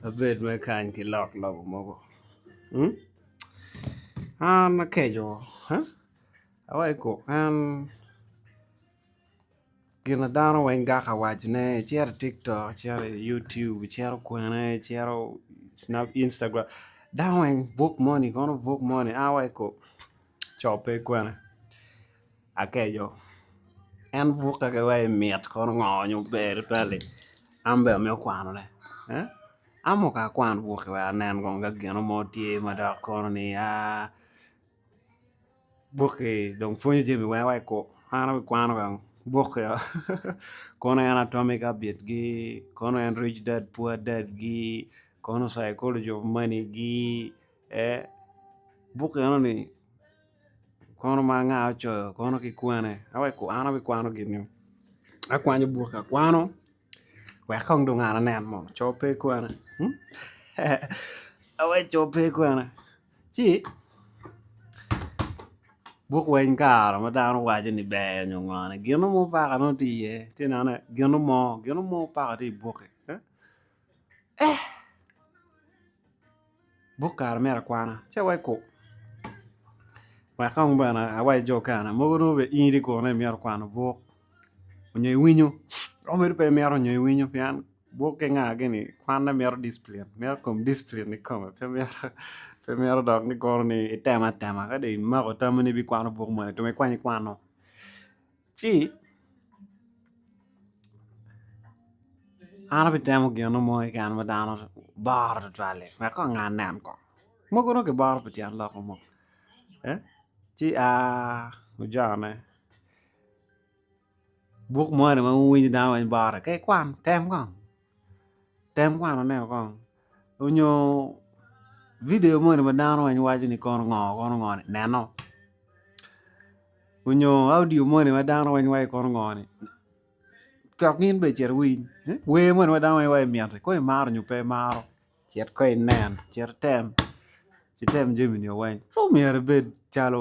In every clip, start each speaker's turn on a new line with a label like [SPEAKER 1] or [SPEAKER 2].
[SPEAKER 1] Abed mere kany ki lok lobo mogo an akeco awaco i kom en gin ma dano weng gako wacone icito i tiktok, icito i yutub, icito kwene, icito i Instagram dano weng buk moni kono buk moni an awaco i kom cobbe kwene. Akeco, En bukke ki wa i mit kono ngo nyo ber tutwal-li? An bene amito kwanone. Eh? An muka akwan bukke wek anen kong ka gino mo tye ma dok kono ni aa bukki dong pwonyo jami weng wa i kwo. An abikwano kong bukke-o kono en Atomic Habits-gi, kono en Rich Dad Poor Dad-gi, kono Psychology of Money-gi, eh, bukke enoni Kono ma anga ocoyo kono ki kwene a wek ku an abikwano gin-ni akwanyo bukke akwano wek kong dong an anen mo co pe kwena awaci co pe kwena ci buk weny kare ma dano waco ni ber nyo ngone gino mo paka nongo tye iye ci ineno ni gino mo gino mo paka tye i bukke eh buk kare myero akwana ci aweko kong wek kong bene awac jo okene mogo nongo bene in itye kunu imito kwano buk onyo iwinyo romo bedo pe imito nyo iwinyo pien buk ki nga gini kwanne mito discipline mito kom discipline kikome pe mito dok ni kono ni itemo atema ka dong imako tammi ni ibikwano buk moni tung ikwany ikwano Ci an abitemo gino mo keken ma dano boro tutwal-li wek kong angan nen kong, mogo dong kiboro pi tyen lok mo ci ojone buk moni ma wunyo dano weng borone ci ikwan tem kong. Tem kwano ne woko onyo video moni ma dano weng waco ni kono ngo kono ngo ni neno onyo audio moni ma dano weng waco ni kono ngo ni cok gin bene cit iwiny wer moni ma dano weng waco ni miti kono imaro nyo pe imaro cit kono inen cit item ci tem jami ni weng pud myero ibed calo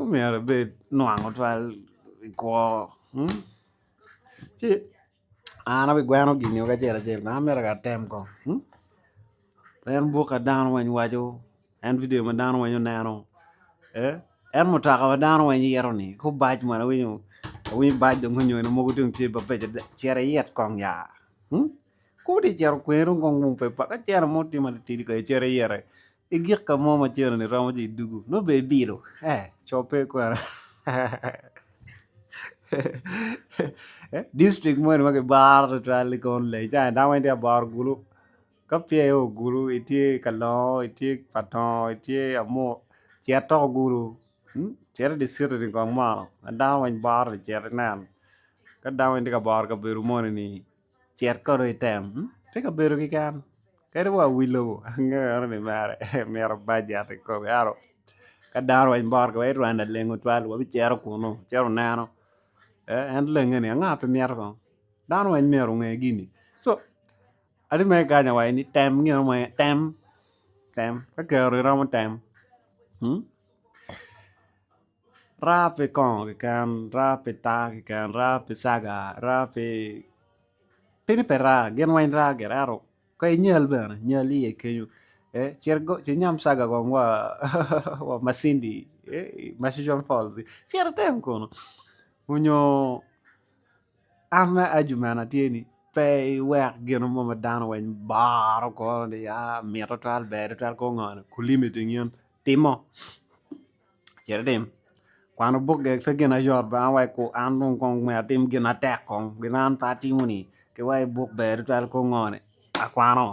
[SPEAKER 1] Omyero ibed nwango twal i kwo ci an abigweno gini woko acel acel kong amito ka atem kong en buk ma dano weng waco en video ma dano weng oneno en mutoka ma dano weng yito ni ko bac moni awinyo awinyo bac dong onyo gin mogo dong tye mabeco dada cit iyit kong ya ko dong icito kweri dong kong pe paka cene mo tye matitidi kong icit iyite I gik ka mo ma cene-ni romo jo i dugu, nongo bene ibilo coppe kwene. Distrik moni ma kibaro tutwal-li kono leng ca en, dano weng tye ka boro gulu. Ka peya i ogulu, itye i kalongo, itye i patongo, itye i amuru, cit tok ogulu, cit i dye citi-ni kong mono ma dano weng boro ni cit inen. Ka dano weng tye ka boro kabedo moni-ni. Cit kono item tye ka bedo keken kadi wa wi lobo angeo ni mere mito bajet i kome ento ka dano wa bot ki wa i Rwanda leng tutwal wa bi cito kunu cito oneno en lenge ni anga pe mito kong dano weng myero onge gini so ati mere kanya wa ni tem gino mo aye tem tem ka kero iromo tem. Raa pi kongo keken, raa pi taa keken, raa pi caga, raa pi pini pe raa gin weng raa gire ento ka inyal bene nyal iye kenyo ci inyam caga kong wa macindi macison fol cit item kunu onyo am me ajumena tye ni pe iwek gin mo ma dano weng baro kore ni mito twal ber twal kor ngo ni kulim iting yen timo. Cit itim. Kwano buk gek pe gin ma yot ba ma weko an dong kong myero atim gin matek kong gin ma an pe atimoni ki wai buk ber tutwal kong ngoni akwano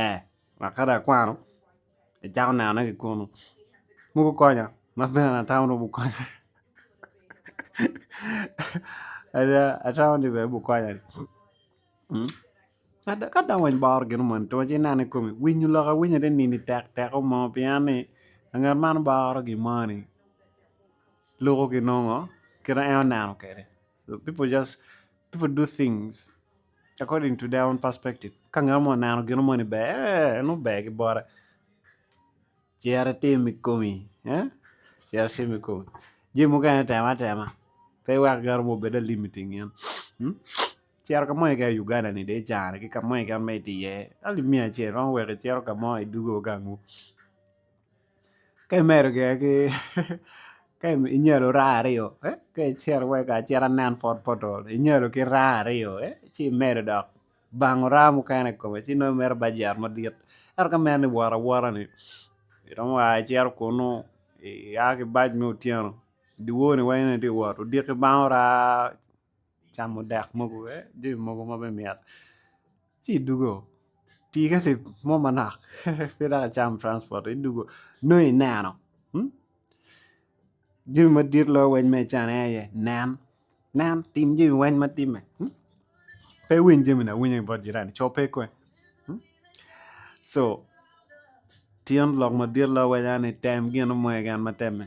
[SPEAKER 1] ee wek ka dong akwano icako nenone ki kunu ma gukonya ma bene atamo ni gukonya ada atamo ni bene gukonya ni. Ka dong weny boro gin moni twero ci ineno i komi winyo lok awinya ni nini tek teko mo pien ni anget man boro gin moni luko ki nongo kit ma en oneno kwede people just people do things according to their own perspective ka ngat mo oneno gin moni ber en ober ki bote cere itim i komi cere itim i komi jami mukene tem atema pe iwek ngat mo obed limiting in. Cito ka mo keken i Uganda ni dong icano ki ka mo keken ma itye iye calo miya acel romo weko icito ka mo idwogo gangu ka imedo gire ki ka inyalo raa aryo ka icito wai kar acita nen pol pol dong inyalo ki raa aryo ci imedo dok bango raa mukene i kome ci nongo imito bajet madit ento ka meno ni wot awota ni iromo a icito kunu iya ki bac me otyeno dye wor ni weng nongo itye ka wot odiki bangwu raa. camo dek mogo ki jami mogo ma bene mit ci idwogo pii ka leb mo manok pe dok icamo transport idwogo nongo ineno jami madit loyo weng ma icano aye nen, nen tim jami weng ma timme pe iwiny jamini awinya ki bot jirani co pe kony co tyen lok madit loyo weng aye ni tem gin mo keken ma temme.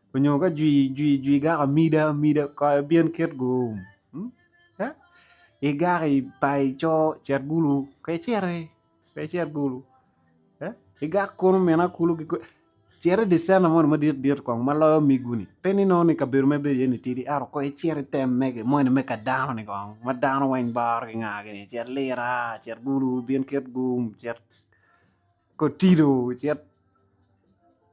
[SPEAKER 1] Onyo ka jwi jwi jwi gako amida amida kong ibin kit gu eh igako ipa ico cet gulu ka iciti ka icit gulu eh igak kunu mine kulu ki kwen cit idi centa moni madit dit kong ma loyo omiggu ni pe ni nongo ni kabedo ma ibedo iye ni tidi ento kong icit item mege moni me ka dano ni kong ma dano weng baro ki nga gini cet lira cet gulu ibin kit gum cet kotido cet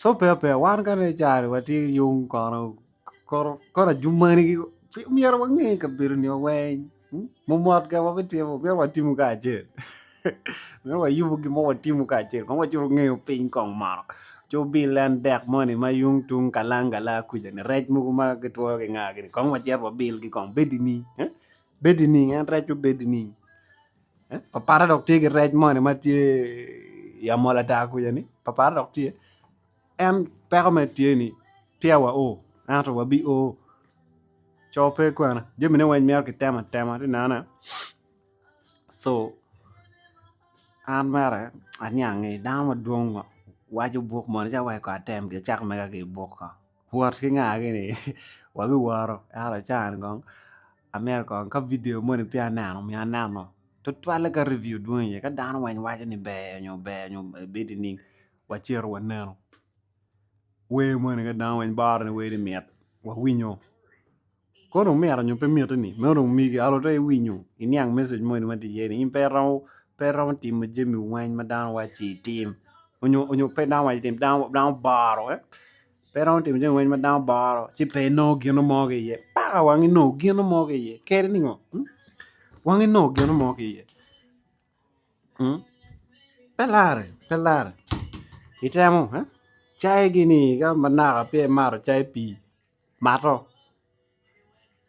[SPEAKER 1] Sope ape wan kani i cari watye ki yung kono kono ajumani myero wange kabedo ni wa weng mumot ka wabitimo myero watimo kacel myero wayubo gin mo watimo kacel kong wacuto ngeyo piny kong mono ci wubil en dek moni ma yung tung kalang gala kuca ni rec mogo ma gitwoyo ki nga gini kong wacit wabil gi kong bed i ning bed i ning en rec-cu bed i ning Papara dok tye ki rec moni ma tye i amola daa kwica ni papara dok tye en peko mere tye ni peya wa oo ento wa bi oo co pe kwene jami ne weng myero ki tem atema ati neno ne co an mere aniange dano madwong waco buk moni ci aweko atem gi acako mega ki buk ko wot ki nga gini wa bi woto ento caa ni kong Amyero kong ka video moni peya aneno omyero aneno tutwalle ka review dwong iye ka dano weng waco ni ber nyo ber nyo bed ining wacito wanenu wer moni ka dano weng boro ni wer ni mit wawinyo koni omito nyo pe miti ni ma onongo omigi ento dong iwinyo iniang message moni matye iye ni in pe iromo pe iromo timo jami weng ma dano waco ci itim nyo nyo pe dano waco itim dano boro pe romo timo jami weng ma dano boro ci pe inongo gino mo ki iye paka wang inongo gino mo ki iye keri ni ngo wang inongo gino mo ki iye pe lare pe lare itemo cayi gini ka manaka pe imato cayi pii mato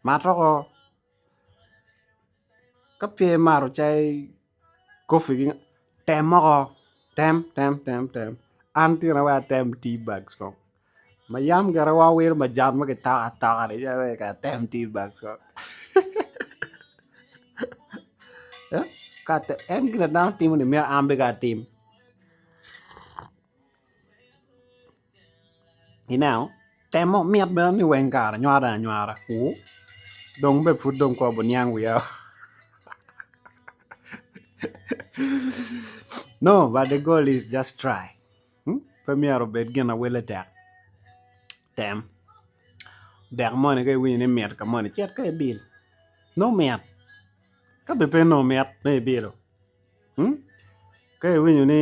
[SPEAKER 1] matwako ka pe imato cai kopi gi tem moko tem tem tem tem an tina wai atem tea bag ko ma yam gire wa wiro majan ma kitoko atoka ni calo wai kara atem tea bag ko en gire dano timo ni myero an bene atim Ineno? Temo mit bene ni weng kare anyware anywara ku dong bene pud dong kong abuniang wiya o no but the goal is just try hmm? pe myero obed gin ma wele tek tem dek moni ka iwinyo ni mit ka moni cit ka ibil nongo mit ka bene pe nongo mit nongo ibilo hmm? ka iwinyo ni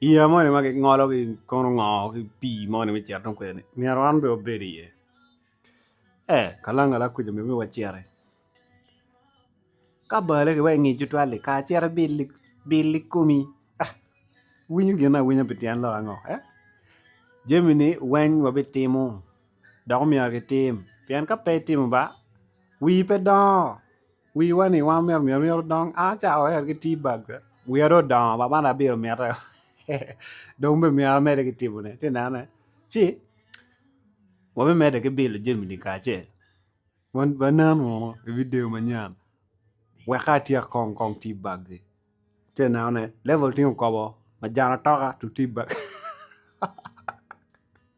[SPEAKER 1] Yeya moni ma gingologi kono ngo ki pii moni me cito tung kwede-ni myero wan bene wabed iye? Ee, kalangala kuca myero waciti. Ka bale ki wa i nge cutwal-li kara cit ibili, bil ikomi. Iwinyo gin awinya pi tyen lok ango? Ee, jamini weng wabitimo dok omyero gitim pien ka pe itimo ba, wii pe dongo. Wiwa ni wan myero myero myero dong an acako ayer ki tea bag wiya dong odongo ma man abino mite dong be myero amede ki timone ati nene ci wabimede ki bilo jami-ni kacel wan ba nen munu i vidio manyen weka atyek kong kong tea bag-gi ati neno ne level tingo kobo majana toka to tea bag